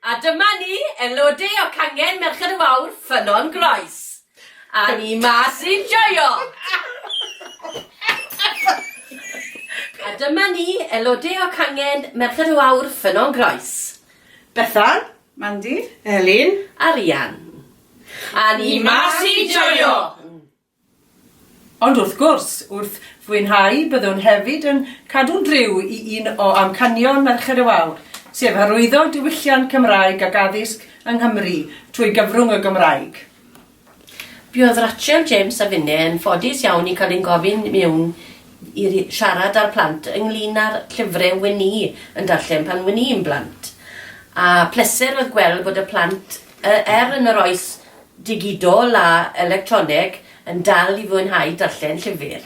A dyma ni, elodau o cangen Merched y Fawr, Ffynnon Groes. A ni mas i'n joio! A dyma ni, elodau o cangen Merched y Wawr, Ffynnon Groes. Bethan, Mandy, Elin a Rhian. A ni mas i'n joio! Ond wrth gwrs, wrth fwynhau, byddwn hefyd yn cadw'n driw i un o amcanion Merched y Wawr, sef hyrwyddo diwylliant Cymraeg ac addysg yng Nghymru trwy gyfrwng y Gymraeg. Buodd Rachel, James a finne yn ffodus iawn i cael ein gofyn i mewn i siarad â'r plant ynglŷn â'r llyfre wen i yn darllen pan wen i'n blant, a pleser oedd gweld bod y plant, er yn yr oes digidol a electroneg yn dal i fwynhau darllen llyfr.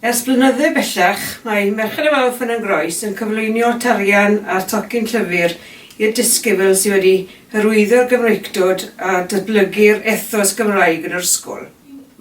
Ers blynydde bellach, mae Merched y Wawr Ffynnon yn Groes yn cyflwynio tarian a'r tocyn llyfr i'r disgybl sydd wedi hyrwyddo'r Gymreictod a datblygu'r ethos Gymraeg yn yr ysgol.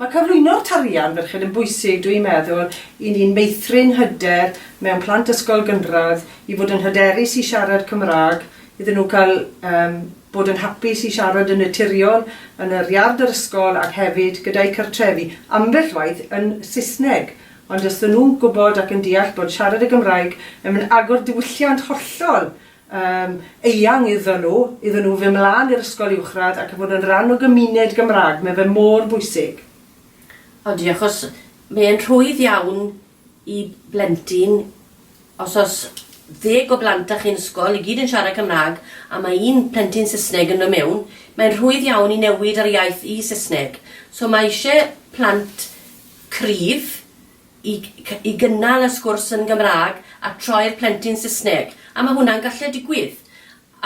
Mae cyflwyno'r tarian ferched yn bwysig, dw i'n meddwl, i ni'n meithrin hyder mewn plant ysgol gynradd i fod yn hyderus i siarad Cymraeg, iddyn nhw cael yym. bod yn hapus i siarad yn naturiol yn yr iard yr ysgol ac hefyd gyda'u cartrefi, ambell waith yn Saesneg, ond os 'dyn nhw'n gwybod ac yn deall bod siarad y Gymraeg yn mynd agor diwylliant hollol yym eang iddon nhw, iddon nhw fyn mlan i'r ysgol uwchradd ac fod yn ran o gymuned Gymraeg, mae fe mor bwysig. O diolch os mae e'n rhwydd iawn i blentyn, os oes ddeg o blant 'da chi'n ysgol, i gyd yn siarad Cymraeg, a mae un plentyn Saesneg yn dod mewn, mae'n rhwydd iawn i newid yr iaith i Saesneg. So mae isie plant cryf i i gynnal y sgwrs yn Gymraeg a troi'r plentyn Saesneg, a mae hwnna'n gallu digwydd.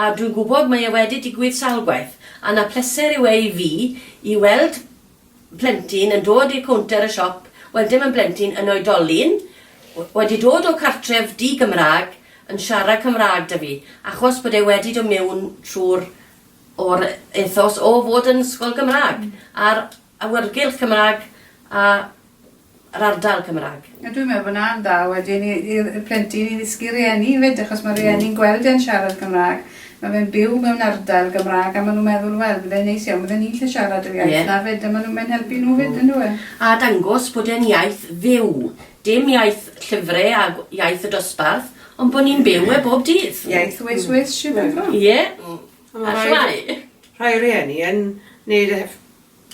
A dwi'n gwybod mae e wedi digwydd sawl gwaith, a 'na pleser yw e i fi i weld plentyn yn dod i'r cownter y siop, wel dim yn blentyn, yn oedolyn, wedi dod o cartref di-Gymraeg, yn siarad Cymraeg 'da fi, achos bod e wedi dod miwn trwy'r o'r ethos o fod yn ysgol Gymraeg, a'r awyrgylch Cymraeg a yr ardal Cymraeg. Ie dwi'n meddwl bod 'na'n dda wedyn i i'r y plentyn i ddysgu rieni 'fyd achos ma' rieni'n gweld e'n siarad Cymra'g ma' fe'n byw mewn ardal Gymra'g a ma' nw'n meddwl wel bydde neis iawn bydde ni'n 'llu siarad yr iaith... Ie. ...'na 'fyd a ma' nw'n mae'n helpu nhw 'fyd on'd yw e? A dangos bod e'n iaith fyw. Dim iaith llyfre a gw- iaith y dosbarth ond bo' ni'n byw e bob dydd. Iaith Wales Wales Ie. Hmm. A ma' rhai... A shwmai? Rhai rieni yn neud e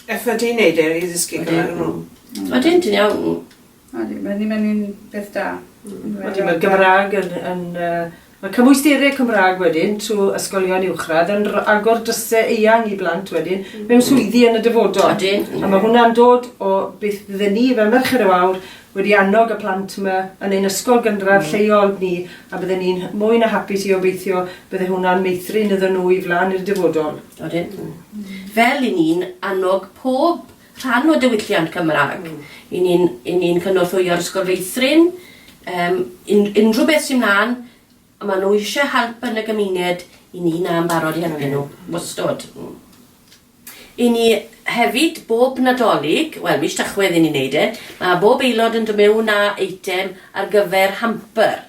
Effaith ti'n neud e i ddysgu Cymraeg nw. Odyn ti'n iawn. Odi mae ddim yn un peth da. Hmm. Odi ma' Gymrag yn yn yy ma' cymwystereg Cymrag wedyn trw ysgolion uwchradd yn r- agor dryse eang i blant wedyn mewn swyddi yn y dyfodol. Odi. A ma' hwnna'n dod o beth fydde ni fel Merched y Wawr wedi annog y plant yma yn ein ysgol gynradd lleol ni a bydden ni'n mwy na hapus i obeithio bydde hwnna'n meithrin iddyn nhw i flaen i'r dyfodol. Odyn. Fel i ni'n annog pob rhan o diwylliant Cymraeg, i ni'n i ni'n cynorthwyo'r Ysgol Feithrin, um, un, unrhyw beth sy'n mlaen, a maen nhw eisiau help yn y gymuned, i ni na yn barod i helpu nhw. Wastod. Mm. I ni hefyd, bob Nadolig, wel, mis Tachwedd i ni'n neud e, ma' bob aelod yn do' mewn â eitem ar gyfer hamper.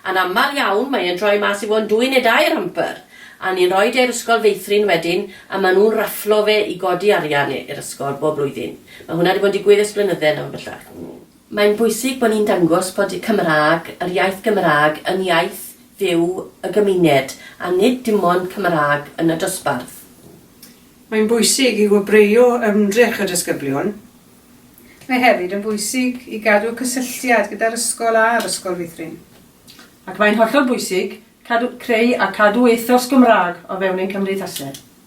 A'n amal iawn mae e'n troi mas i fo' yn dwy ne' dair hamper, a ni'n roid e i'r ysgol feithrin wedyn a ma' nhw'n rafflo fe i godi arian i'r ysgol bob blwyddyn. Ma' hwnna 'di bod yn digwydd ers blynydde nawr bellach. Mae'n bwysig bod ni'n dangos bod y Cymraeg, yr iaith Gymraeg, yn iaith fyw y gymuned a nid dim ond Cymraeg yn y dosbarth. Mae'n bwysig i wobrwyo ymdrech y disgyblion. Mae hefyd yn bwysig i gadw cysylltiad gyda'r ysgol a'r ysgol feithrin. Ac mae'n hollol bwysig cadw, creu a cadw ethos Gymraeg o fewn ein cymdeithaseg.